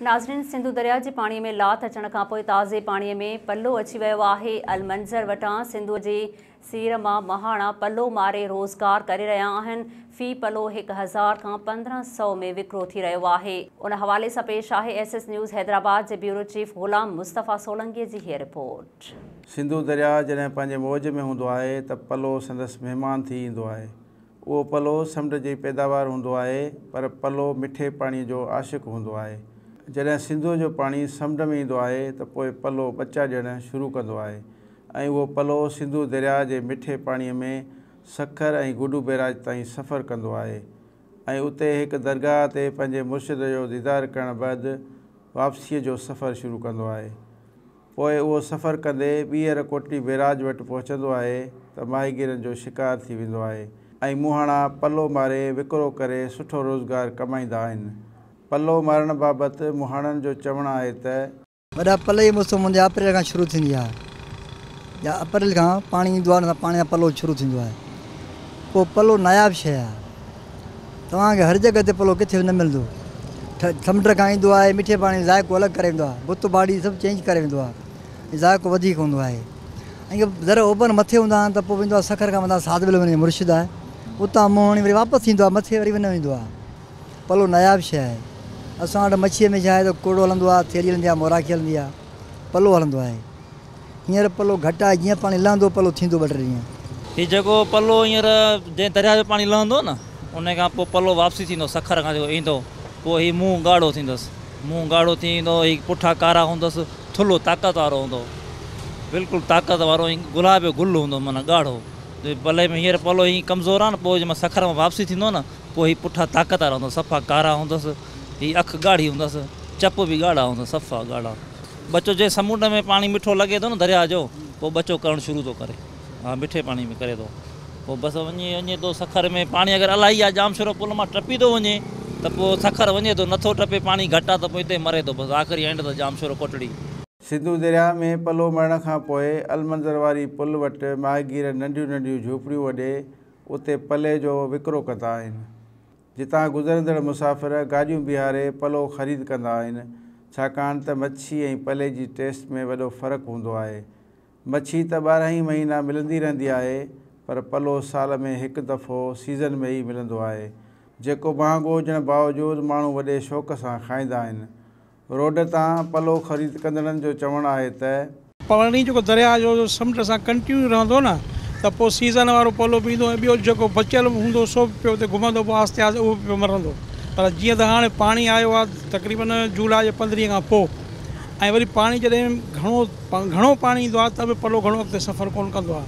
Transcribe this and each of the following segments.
ناظرين سنڌو درياء جي پاڻي ۾ لاٿ اچڻ کانپوء تازي پاڻي ۾ پلو اچي ويو آهي المنظر وٽان سنڌو جي سير مان مهاڻا پلو ماري روزگار ڪري رهيا آهن في پلو هڪ هزار کان پندرهن سئو ۾ وڪرو ٿي رهيو آهي. ان حوالي سان پيش آهي ايس ايس نيوز حيدرآباد جي بيورو چيف غلام مصطفيٰ سولنگي جي هيء رپورٽ. سنڌو درياء جڏهن پنهنجي موج ۾ هوندو آهي ته پلو سندس مهمان ٿي ايندو آهي اهو پلو سمنڊ جي پيداوار هوندو آهي پر پلو مٺي پاڻي جو عاشق هوندو آهي. جڏهن سنڌوء جو پاڻي سمنڊ ۾ ايندو آهي ته پوء پلو ٻچا ڏيڻ شروع ڪندو آهي ۽ اهو پلو سنڌو درياء جي مٺي پاڻي ۾ سکر ۽ گڊو بيراج تائين سفر ڪندو آهي ۽ اتي هڪ درگاهه تي پنهنجي مرشد جو ديدار ڪرڻ بعد واپسيء جو سفر شروع ڪندو آهي. پوء اهو سفر ڪندي ٻيهر ڪوٽڙي بيراج وٽ پهچندو آهي ته ماهيگيرن جو شڪار ٿي ويندو آهي ۽ مونهاڻا پلو ماري وڪرو ڪري سٺو روزگار ڪمائيندا آهن. پلو مارڻ بابت مونهاڻن جو چوڻ آهي ته. وڏا پلئي جي موسم هوندي اپريل کان شروع ٿيندي آهي يا اپريل کان پاڻي ايندو آهي ان سان پاڻي سان پلو شروع ٿيندو آهي پوء پلو ناياب شيء آهي. توهان کي هر جڳهه تي پلو ڪٿي به نه ملندو. سمنڊ کان ايندو آهي، مٺي پاڻي جو ذائقو الڳ ڪري ويندو آهي. بت باڙي سڀ چينج ڪري ويندو آهي ۽ ذائقو وڌيڪ هوندو آهي. ۽ جي ذرا اوڀر مٿي هوندا آهن ته پوء ويندو آهي سکر کان مٿان ساڌ بلوين جو مرشد آهي. اتان منهن هڻي وري واپس ايندو آهي، مٿي وري نه ويندو آهي. پلو ناياب شيء آهي. اسان وٽ مڇيء ۾ ڇا آهي ته ڪوڙو هلندو آهي، ٿيلهي هلندي آهي، موراکي هلندي آهي. پلو هلندو آهي. هينئر پلو گهٽ آهي جيئن پاڻي لهندو پلو ٿيندو ٻه ٽي ڏينهن. هي جيڪو پلو هينئر جئين درياء جو پاڻي لهندو نه انهي کان پوء پلو واپسي ٿيندو سکر کان جيڪو ايندو پوء هي منهن ڳاڙهو ٿيندس منهن ڳاڙهو ٿي ايندو هي پٺا ڪارا هوندس ٿلهو طاقت وارو هوندو بلڪل طاقت وارو ائين گلاب جو گل هوندو معنيٰ ڳاڙهو جي پلي ۾ هينئر پلو هي ڪمزور آهي نه پوء جي مهل سکر مان واپسي ٿيندو نه پوء هي پٺا طاقت وارا هوندس صفا ڪارا هوندس هي اک ڳاڙهي هوندس چپ به ڳاڙها هوندس صفا ڳاڙها ٻچو جنهن سمنڊ ۾ پاڻي مٺو لڳي ٿو نه درياء جو پوء ٻچو ڪرڻ شروع ٿو ڪري ها مٺي پاڻي ۾ ڪري ٿو پوء بس وڃي وڃي ٿو سکر ۾ پاڻي اگر الاهي يا ڄام شورو پل مان ٽپي ٿو وڃي ته پوء سکر وڃي ٿو نٿو ٽپي پاڻي گهٽ آ ته پوء اتي مري ٿو بس آخري اينڊ ته ڄام شورو ڪوٽڙي. سنڌو درياء ۾ پلو مڙڻ کان پوء المنظر واري پل وٽ ماهيگير ننڍيون ننڍيون جهوپڙيون وڍي اتي پلي جو وڪرو ڪندا آهن جتان گذرندڙ مسافر گاڏيون بيهاري پلو خريد ڪندا آهن، ڇاڪاڻ ته مڇي ۽ پلي جي ٽيسٽ ۾ وڏو فرق هوندو آهي. مڇي ته ٻارهن ئي مهينا ملندي رهندي آهي، پر پلو سال ۾ هڪ دفعو سيزن ۾ ئي ملندو آهي، جيڪو مهانگو هجڻ باوجود ماڻهو وڏي شوق سان کائيندا آهن. روڊ تان پلو خريد ڪندڙن جو چوڻ آهي ته. پاڻي جيڪو درياهه جو سمنڊ سان ڪنٽينيو رهندو نه ته پوء سيزن وارو پلو به ايندو ۽ ٻيو جيڪو بچيل به هوندو سو به پيو اتي گهمندو پوء آهستي آهستي اهو به پيو مرندو پر جيئن ته هاڻي پاڻي آيو آهي تقريبن جولاء جي پندرهين کان پوء ۽ وري پاڻي جڏهن گهڻو گهڻو پاڻي ايندو آهي ته به پلو گهڻو اڳتي سفر ڪونه ڪندو آهي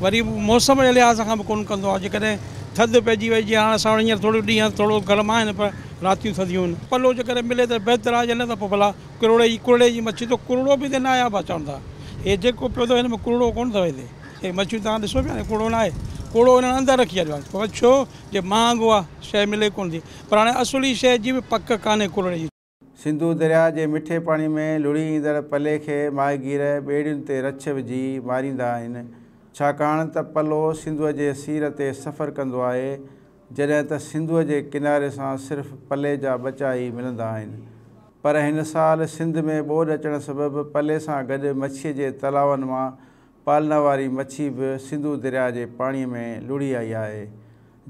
وري موسم جي لحاظ کان به ڪونه ڪندو آهي جيڪڏهن ٿڌ پئجي وئي جيئن هاڻ اسان وٽ هينئر ٿورڙيون ڏينهن ٿورڙو گرم آهن پر راتيون ٿڌيون. پلو جي ڪري ملي ته بهتر آهي نه ته پوء ڀلا ڪرڙي جي ڪرڙي جي مڇي تو ڪرڙو به هتي ناهي آباد چون ٿا هي جيڪو پيو اٿو هن ۾ ڪرڙو ڪونه اٿو هتي هي مڇيون توهان ڏسو پيا ڪرڙو ناهي ڪرڙو هنن اندر رکي ڇڏيو آهي پر ڇو جي مهانگو آهي شيء ملي ڪونه ٿي پر هاڻي اصلي شيء جي به پڪ ڪانهي ڪرڙي جي. سنڌو درياء جي مٺي پاڻي ۾ لڙهي ايندڙ پلي کي ماهيگير ٻيڙين تي رڇ وجهي ماريندا آهن ڇاڪاڻ ته پلو سنڌوء جي سير تي سفر ڪندو آهي جڏهن ته سنڌوء جي ڪناري سان صرف پلي جا ٻچا ئي ملندا آهن. پر هن سال سنڌ ۾ ٻوڏ اچڻ سبب پلي سان گڏ مڇيء جي تلاون مان پالنا واري مڇي به سنڌو درياهه جي پاڻيء ۾ لڙهي آئي آهي،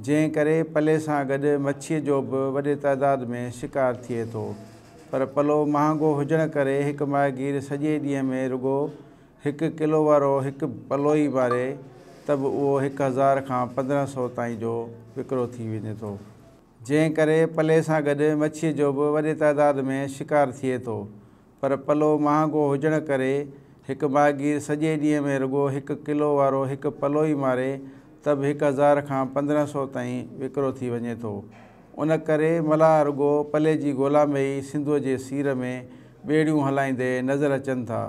جنهن ڪري پلي سان گڏ مڇيء جو به وڏي تعداد ۾ شڪار ٿئي ٿو. پر پلو مهانگو هجڻ ڪري هڪ ماهيگير سڄي ڏينهن ۾ رڳو هڪ ڪلو وارو هڪ پلو ئي ٻاري ته به اهو هڪ هزار کان پندرهن سئو تائين جو وڪرو ٿي وڃي ٿو، جنهن ڪري پلي سان گڏ مڇيء جو به وڏي تعداد ۾ شڪار ٿئي ٿو، پر پلو مهانگو هجڻ ڪري هڪ ماهيگير سڄي ڏينهن ۾ رڳو هڪ ڪلو وارو هڪ پلو ئي ماري ته به هڪ هزار کان پندرهن سئو تائين وڪرو ٿي وڃي ٿو، ان ڪري ملاح رڳو پلي جي ڳولا ۾ ئي سنڌوء جي سير ۾ ٻيڙيون هلائيندي نظر اچن ٿا.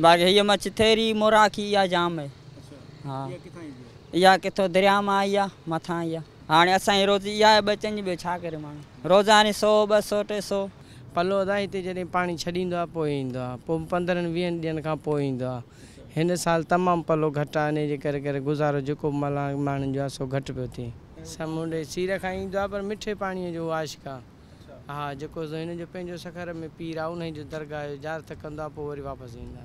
باقي هيء مڇ ٿيري، موراکي اها جام آهي. اها ڪٿو درياء مان آئي آهي، مٿان آئي آهي. هاڻي اسان جي روزي اها آهي ٻچن جي، ٻيو ڇا ڪري ماڻهو. روزاني سو، ٻه سو، ٽي سو. پلو ادا هتي جڏهن پاڻي ڇڏيندو آهي پوء ايندو آهي. پوء به پندرهن ويهن ڏينهن کان پوء ايندو آهي. هن سال تمام پلو گهٽ آهي انهيء جي ڪري ڪري گذارو جيڪو به ملهاڻ ماڻهن جو آهي سو گهٽ پيو ٿئي. سمنڊ جي سير کان ايندو آهي پر مٺي پاڻيء جو عاشق آهي. ها جيڪو ذهن جو پنهنجو سکر ۾ پير آ انهي جو درگاهه جو زيارت ڪندو آ پوء وري واپس ايندا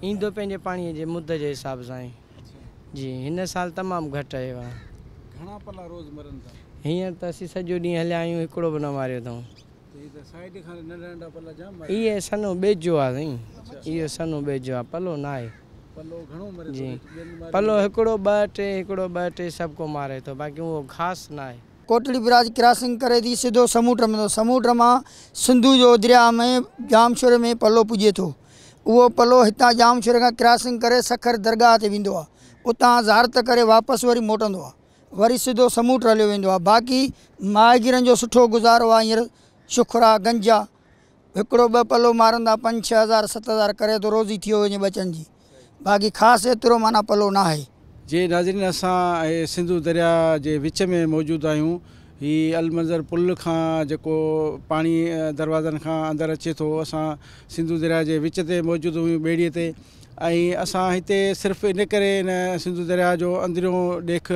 ايندو پنهنجي پاڻي جي مد جي حساب سان آهي جي هن سال تمام گهٽ اهي وا گهڻا پلا روز مرن ٿا هينئر ته اسين سڄو ڏينهن هليا آهيون هڪڙو به نه ماريو اٿئون ته هي ته سائيڊ کان ننڍا ننڍا پلا جام ماريا اهي سنهو ٻيجو آ سائين اهو سنهو ٻيجو آ پلو نه آهي پلو گهڻو مري ٿو جي پلو هڪڙو ٻه ٽي هڪڙو ٻه ٽي سڀ ڪو ماري ٿو باقي اهو خاص نه آهي. ڪوٽڙي برج ڪراسنگ ڪري ٿي سڌو سموٽ ۾ ٿو سموٽ مان سنڌو جو درياء ۾ ڄامشوري ۾ پلو پڄي ٿو اهو پلو هتان ڄامشوري کان ڪراسنگ ڪري سکر درگاهه تي ويندو آهي اتان زارت ڪري واپس وري موٽندو آهي وري سڌو سموٽ هليو ويندو آهي باقي ماهيگيرن جو سٺو گذارو آهي هينئر شخرا گنجا هڪڙو ٻه پلو مارن تان پنج ڇهه هزار ست هزار ڪري ٿو روزي ٿيو وڃي ٻچن جي باقي خاص ايترو معنيٰ پلو ناهي. جي ناظرين اسان سنڌو درياء جي وچ ۾ موجود آهيون هي المنظر پل کان جيڪو پاڻي دروازن کان اندر اچي ٿو اسان سنڌو درياء جي وچ تي موجود آهيون ٻيڙي تي ۽ اسان هتي صرف ان ڪري هن سنڌو درياء جو اندريون ڏيک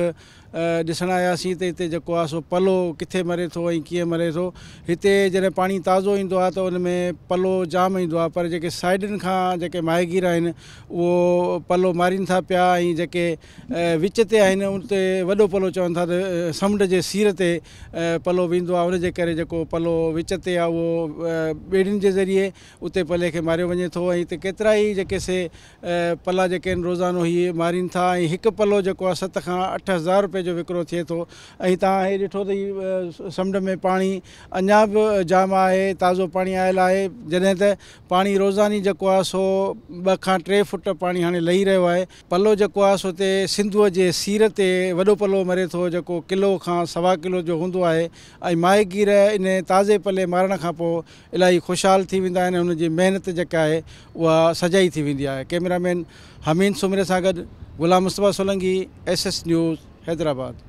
ڏسڻ آياسين ته هتي جيڪو آهي سو پلو ڪٿي مري ٿو ۽ ڪيئن مري ٿو. هتي جڏهن پاڻي تازو ايندو آهي ته ان ۾ پلو جام ايندو آهي پر جيڪي سائيڊن کان جيڪي ماهيگير آهن اهو پلو مارين ٿا پيا ۽ جيڪي وچ تي آهن اتي وڏو پلو چون ٿا ته سمنڊ جي سير تي پلو ويندو آهي ان جي ڪري جيڪو پلو وچ تي آهي اهو ٻيڙين جي ذريعي اتي پلي کي ماريو وڃي ٿو ۽ هتي ڪيترائي جيڪي سي پلا جيڪي آهن روزانو هي مارين ٿا ۽ هڪ پلو جيڪو آهي ست کان اٺ هزار روپئي جو وڪرو ٿئي ٿو ۽ تهان هي ڏٺو ته هي سمنڊ ۾ پاڻي اڃا به جام آهي تازو پاڻي آيل آهي جڏهن ته پاڻي روزاني جيڪو آهي سو ٻه کان ٽي فٽ پاڻي هاڻي لهي رهيو آهي پلو جيڪو آهي سو تي سنڌوء جي سير تي وڏو پلو مري ٿو جيڪو ڪلو کان سوا ڪلو جو هوندو آهي ۽ ماهيگير انهي تازي پلي مارڻ کان پوء الاهي خوشحال ٿي ويندا آهن ۽ هن جي محنت جيڪا آهي اها سجائي ٿي ويندي آهي ڪئميرا مين حمين سومري سان گڏ Ghulam Mustafa Solangi S S news Hyderabad.